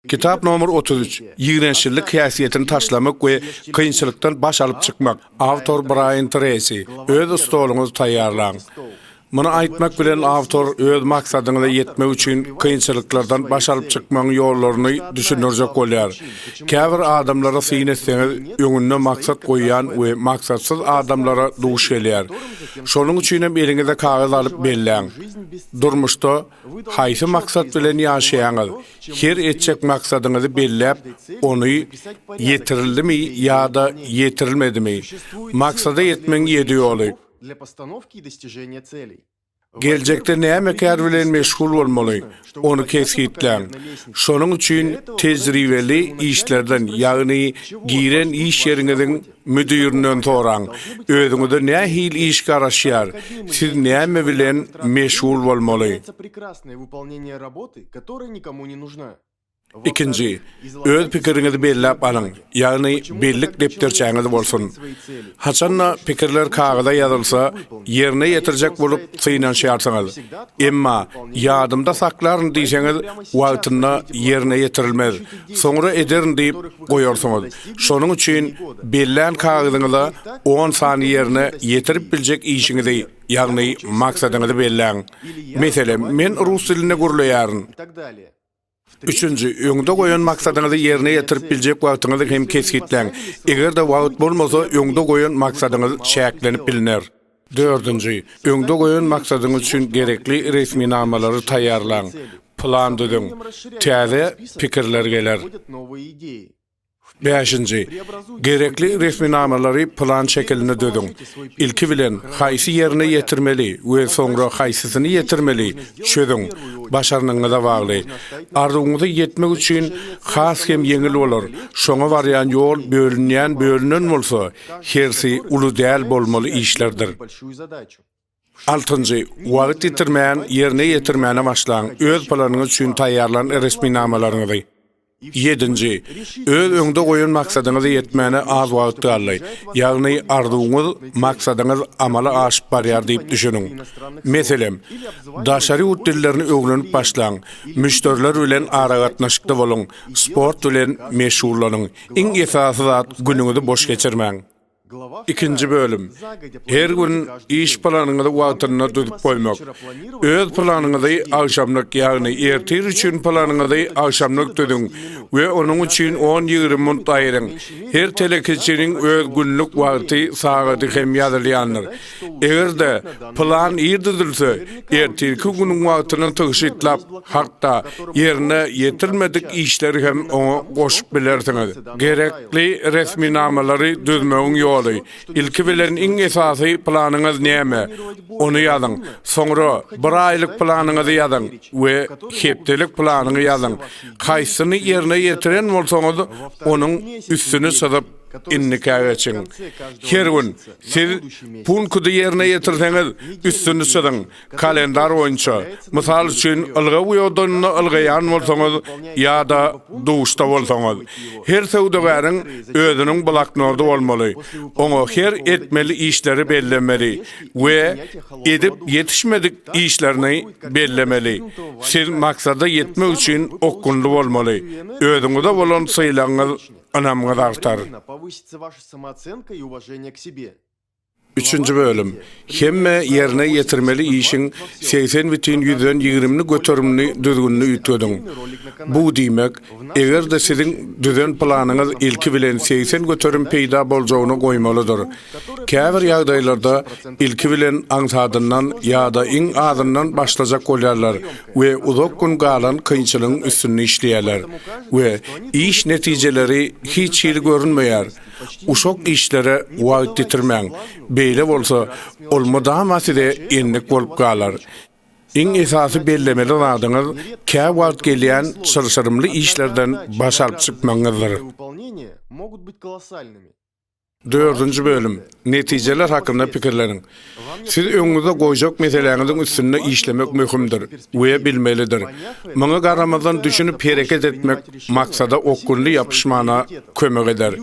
Kitap nomer otuz üç, Ýigrençlilik häsiýetini taşlamak we kynçylykdan baş alyp çykmak, awtor Braýan Tresi, Öz stoluňyzy taýýarlaň. Muny aýtmak bilen awtor öz maksadyňyza ýetmek üçin kynçylyklardan baş alyp çykmagyň ýollaryny düşündirjek bolýar. Käbir adamlary syn etseňiz, öňünde maksat goýýan we maksatsyz adamlara duş gelýär. Şonuň üçinem eliňize kagyz alyp belläň. Durmuşda. Haýsy maksat bilen ýaşaýaňyz? Her etjek maksadyňyzy belläp, ony ýetirildimi ýa-da ýetirilmedimi? Maksada ýetmegiň ýedi ýoly. Geljekde näme kär bilen meşgul bolmaly? Ony kesgitläň. Şonuň üçin tejribeli işlerden, ýagny giren iş ýeriňiziň Müdirinden soraň, özüňize nähili iş garaşýar, siz näme bilen meşgul bolmaly? Ikinji, öz pikiriňizi belläp alyň, ýagny bellik depderçäňiz bolsun. Haçan-da pikirler kagyza ýazylsa, ýerine ýetirjek bolup synanyşýarsyňyz. Emma, ýadymda saklaryn diýseňiz, wagtynda ýerine ýetirilmez, soňra ederin diýip, goýarsyňyz. Şonuň üçin bellän kagyzyňyza on sany ýerine ýetirip biljek işiňizi, ýagny maksadyňyzy belläň. Meselem, men rus dilinde gürleýärin. Üçünji, öňde goýan maksadyňyzy ýerine ýetirip biljek wagtyňyzy hem kesgitläň. Eger-de wagt bolmasa, öňde goýan maksadyňyz çäklenip bilner. Dördünji, öňde goýan maksadyňyz üçin gerekli resminamalary taýýarlaň, plan düzüň, täze pikirler geler. Bäşinji, gerekli resminamalary plan şekilinde düzüň, ilki bilen haýsy ýerine ýetirmeli we soňra haýsysyny ýetirmeli, çözüň, başarnygyňyza bagly. Arzuwyňyza ýetmek üçin has hem ýeňil bolar, şoňa barýan ýol bölünýän bölünen bolsa, hersi uly däl bolmaly işlerdir. Altynjy, wagt ýitirmän ýerine ýetirmäne başlaň, öz planyňyz üçin taýýarlan resminamalaryňyzy. Ýedinji, öz öňde goýan maksadyňyza ýetmäne az wagt galdy, ýagny arzuwyňyz, maksadyňyz amala aşyp barýar diýip düşüniň. Meselem, daşary ýurt dillerini öwrenip başlaň, müşderiler bilen aragatnaşykda boluň, sport bilen meşgullanyň, Iň esasy zat günüňizi boş geçirmäň. Ikinji bölüm. Her gün iş planyňyzy wagtynda düzüp goýmak. Öz planyňyzy agşamlyk, ýagny ertir üçin planyňyzy agşamlyk düzüň we onuň üçin on-ýigrimi minut aýryň. Her telekeçiniň öz günlük wagty, sagady hem ýazylýandyr. Eger-de, plan ir düzülse, ertirki günüň wagtyny tygşytlap, hatda ýerine ýetirmedik işleri hem oňa goşup bilersiňiz. Gerekli resminamalary düzmegiň ýoly. Ilki bilen iň esasy planyňyz näme? Ony ýazyň. Soňra bir aýlyk planyňyzy ýazyň we hepdelik planyňy ýazyň. Haýsyny ýerine ýetiren bolsaňyz, onuň üstüni çyzyp, Indiki geçiň. Her gün siz punkudy ýerine ýetirseňiz, üstüni çyzyň. Kalendar boýunça, mysal üçin, ylgaw diodynda ylgaýan bolsaňyz ýa-da duşda bolsaňyz, her söwdagäriň özüniň bloknody bolmaly. Oňa her etmeli işleri bellemeli we edip ýetişmedik işlerini bellemeli. Siz maksada ýetmek üçin okgunly bolmaly. Özüňize bolan sylagyňyz Ynam gazaldar. Üçünji bölüm. Hemme ýerine ýetirmeli işiň segsen bitin ýüzden ýigrimini göterimini düzgünini üýtgediň. Bu diýmek, eger-de siziň düzen planyňyz ilki bilen segsen göterim peýda boljagyny goýmalydyr. Käbir ýagdaýlarda ilki bilen aňsadyndan ýa-da iň azyndan başlajak bolýarlar we uzak gün galan kynçylygyň üstünde işleýärler we iş netijeleri hiç hili görünmeýär. Uşak işlere wagt ýitirmäň, beýle bolsa, ol mydama size endik bolup galar. Iň esasy bellemeli zadyňyz käwagt gelýän çylşyrymly işlerden baş alyp çykmagyňyzdyr. Dördünji bölüm, Netijeler hakynda pikirleniň. Siz öňüňizde goýjak meseläňiziň üstünde işlemek möhümdir we bilmelidir. Muňa garamazdan düşünip hereket etmek maksada okgunly ýapyşmana kömek eder.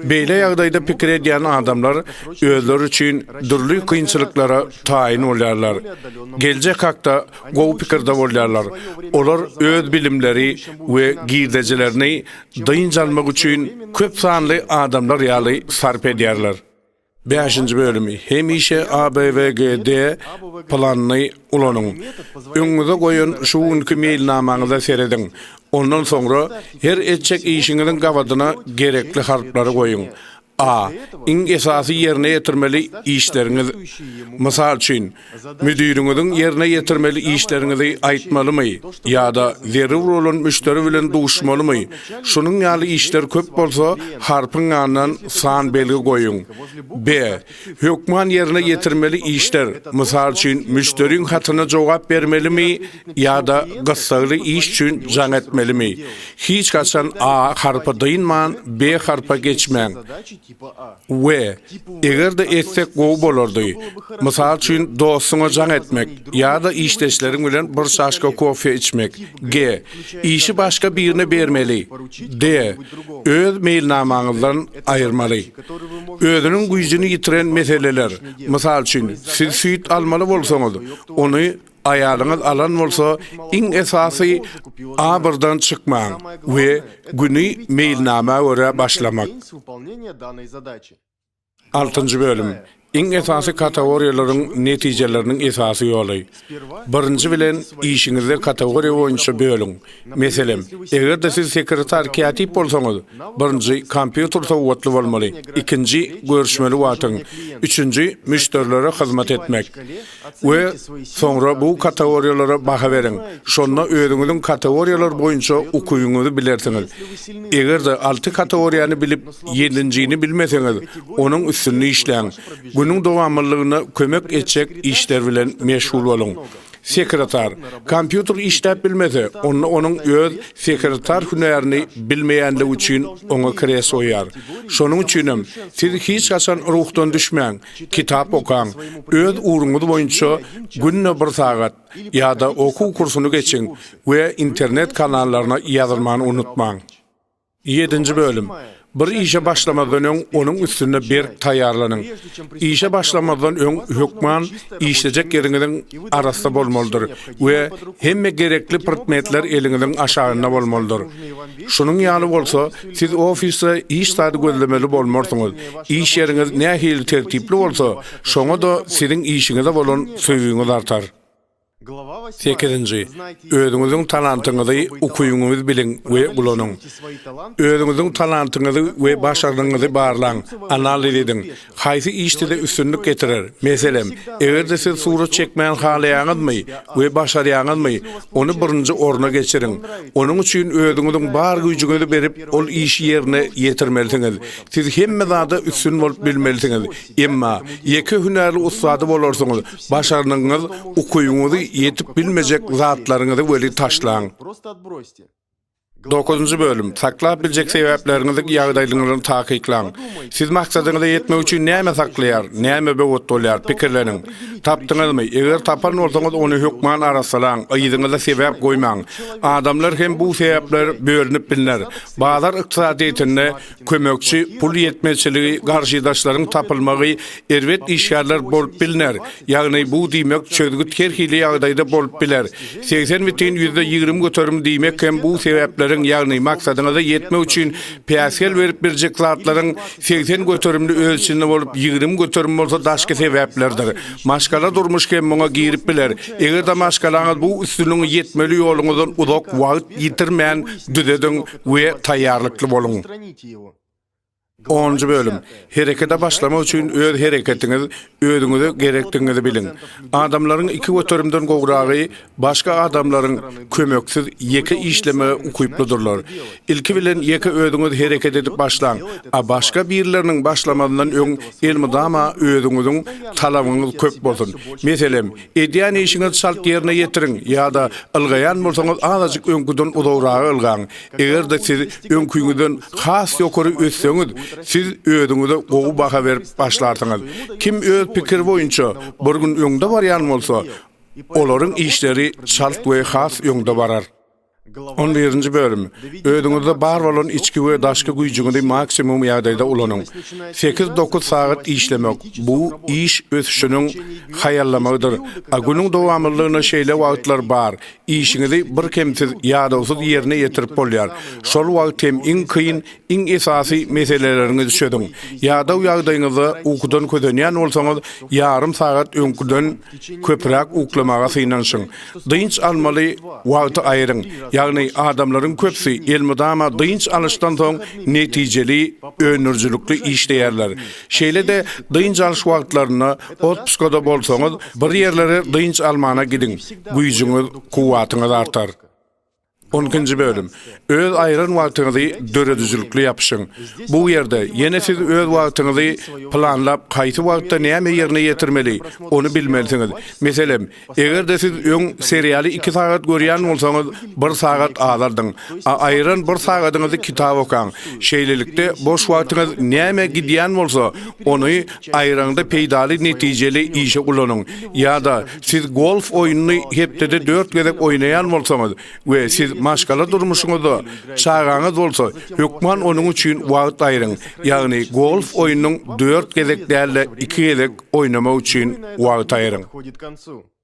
Beýle ýagdaýda pikir edýän adamlar özleri üçin dürli kynçylyklara taýyn bolýarlar. Geljek hakda gowy pikirde bolýarlar. Olar öz bilimleri we girdejilerini dynç almak üçin köp sanly adamlar ýaly sarp edýärler. Bäşinji bölümi, Hemişe ABWGD planyny ulanyň. Öňüňize goýan şu günki meýilnamaňyza serediň. Ondan soňra her etjek işiňiziň gabadyna gerekli harplary goýuň. A. Iň esasy ýerine ýetirmeli işleriňiz. Mysal üçin, müdiriňiziň ýerine ýetirmeli işleriňizi aýtmalymy ýa-da zerur bolan müşderi bilen duşmalymy? Şunuň ýaly işler köp bolsa, harpyň ýanyndan san belgi goýuň. B. Hökman ýerine ýetirmeli işler, mysal üçin, müşderiň hatyna jogap bermelimi? Ýa-da gyssagly iş üçin jaň etmelimi? Hiç haçan A harpy dynman, B harpa geçmäň. We, eger-de etsek gowy bolardy. Mysal üçin, dostuňa jaň etmek, ýa-da işdeşleriň bilen bir çaşka kofe içmek. G. Işi başga birine bermeli. D. Öz meýilnamaňyzdan aýyrmaly. Özüniň güýjüni ýitiren meseleler, mysal üçin, siz süýt almaly bolsaňyz, ony Aýalyňyz alan bolsa, iň esasy abyrdan çykmaň we güni meýilnama görä başlamak. Altynjy bölüm. Iň esasy katagoriýalaryň netijeleriniň esasy ýoly. Birinji bilen, işiňizi katagoriýa boýunça bölüň. Meselem, eger-de siz sekretar-kätip bolsaňyz, birinji, kompýuter sowgatly bolmaly, ikinji, görüşmeli wagtyň, üçünji, müşderilere hyzmat etmek. we soňra bu kategoriýalara baha beriň, şonda özüňiziň kategoriýalar boýunça ukybyňyzy bilersiňiz. Eger-de alty kategoriýany bilip, ýedinjini bilmeseňiz, onuň üstünde işläň. Günüň dowamlylygyna kömek etjek işler bilen meşgul boluň. Sekretar. Kompýuter işläp bilmese, onda onuň öz sekretar hünärini bilmeýänligi üçin oňa kreslo ýar. Şonuň üçinem, siz hiç haçan ruhdan düşmäň, Kitap okaň, öz ugruňyz boýunça günde bir sagat ýa-da okuw kursuny geçiň we internet kanallaryna ýazylmany unutmaň. Ýedinji bölüm. Bir işe başlamazdan öň onuň üstünde berk taýýarlanyň. Işe başlamazdan öň hökman işlejek ýeriňiziň arassa bolmalydyr we hemme gerekli prtmetler eliňiziň aşagynda bolmalydyr. Şunuň ýaly bolsa, Siz ofisde hiç zady gözlemeli bolmarsyňyz. Iş ýeriňiz nähili tertipli bolsa, şoňa-da siziň işiňize bolan söýgiňiz artar. Sekizinji. Özüňiziň talantyňyzy, ukyňyzy biliň we ulanyň. Özüňiziň talantyňyzy we başarnygyňyzy barlaň, analiz ediň. Haýsy iş size üstünlik getirer? Meselem, eger-de siz surat çekmäni halaýaňyzmy we başarýaňyzmy, ony birinji orna geçiriň. Onuň üçin özüňiziň bar güýjüňizi berip, ol işi ýerine ýetirmelisiňiz. Siz hemme zada üstün bolup bilmelisiňiz. Emma, ýeke hünäri ussady bolarsyňyz, başarnygyňyz, ukybyňyzy, ýetip bilmejek zatlaryňyzy weli taşlaň. Dokuzynjy bölüm, Saklap biljek sebäpleriňiziň ýagdaýlygyny takyklaň. Siz maksadyňyza ýetmek üçin näme saklaýar, näme böwet bolýar, pikirleniň. Tapdyňyzmy? Eger tapan bolsaňyz, ony hökman arassalaň, yzyňyza sebäp goýmaň. Adamlar hem bu sebäpler bölünip bilner. Bazar ykdysadyýetinde Kömekçi pul ýetmezçiligi garşydaşlaryň tapylmagy erbet işgärler bolup bilner, ýagny bu diýmek çözgüt her hili ýagdaýda bolup biler. Segsen bitin ýüzde ýigrimi göterim diýmek hem bu sebäpleriň ýagny maksadyňyza ýetmek üçin päsgel berip biljek zatlaryň segsen göterimini öz içinde bolup ýigrimi göterim bolsa daşky sebäplerdir. Maşgala durmuş hem muňa girip biler eger-de maşgalaňyz bu üstünligiň ýetmeli ýoluňyzdan uzak wagt ýitirmän düzediň we taýýarlykly boluň. Onunjy bölüm. Herekete başlamak üçin öz hereketiňiz, özüňize gerekdigiňizi biliň. Adamlaryň iki göterimden gowragy başga adamlaryň kömeksiz ýeke işlemege ukyplydyrlar. Ilki bilen ýeke özüňiz hereket edip başlaň, a başga birleriniň başlamazyndan öň elmydama özüňiziň talabyňyz köp bolsun. Meselem, Edýän işiňizi çalt ýerine ýetiriň ýa-da ylgaýan bolsaňyz azajyk öňküden uzagraga ylgaň. Eger-de siz öňküňizden has ýokary össeňiz, siz özüňize gowy baha berip başlarsyňyz. Kim öz pikiri boýunça bir gün öňde barýan bolsa, olaryň işleri çalt we has öňde barar. On birinji bölüm. Özüňizde bar bolan içki we daşky güýjüňizi maksimum ýagdaýda ulanyň. Sekiz-dokuz sagat işlemek, bu iş ösüşiniň haýallamagydyr. A günüň dowamlylygynda şeýle wagtlar bar, işiňizi birkemsiz, ýadawsyz ýerine ýetirip bolýar. Şol wagt hem iň kyn, Iň esasy meseleleriňizi çözüň. Ýadaw ýagdaýyňyzda ukudan kösenýän bolsaňyz, ýarym sagat öňküden köpräk uklamaga synanyşyň. Dynç almaly wagty aýryň, ýagny adamlaryň köpüsi elmydama dynç alyşdan soň netijeli, öndürijilikli işleýärler. Şeýle-de dynç alyş wagtlarynda otpusgada bolsaňyz, bir ýerlere dynç almana gidiň, güýjüňiz, kuwwatyňyz artar. On ikinji bölüm. Öz aýran wagtyňyzy döredijilikli ýapyşyň. Bu ýerde ýene siz öz wagtyňyzy planlap, haýsy wagtda näme ýerine ýetirmeli, ony bilmelisiňiz. Meselem, eger-de siz öň serialy iki sagat görýän bolsaňyz, bir sagat azaldyň. A aýran bir sagadyňyzy kitap okaň. Şeýlelikde, boş wagtyňyz nämä gidýän bolsa, ony aýraňda peýdaly netijeli işe ulanyň. Ýa-da, Siz golf oýnuny hepdede dört gezek oýnaýan bolsaňyz we siz maşgala durmuşyňyzda, çagaňyz bolsa, hökman onuň üçin wagt aýryň, ýagny golf oýnunyň dört gezek däl-de iki gezek oýnamak üçin wagt aýryň.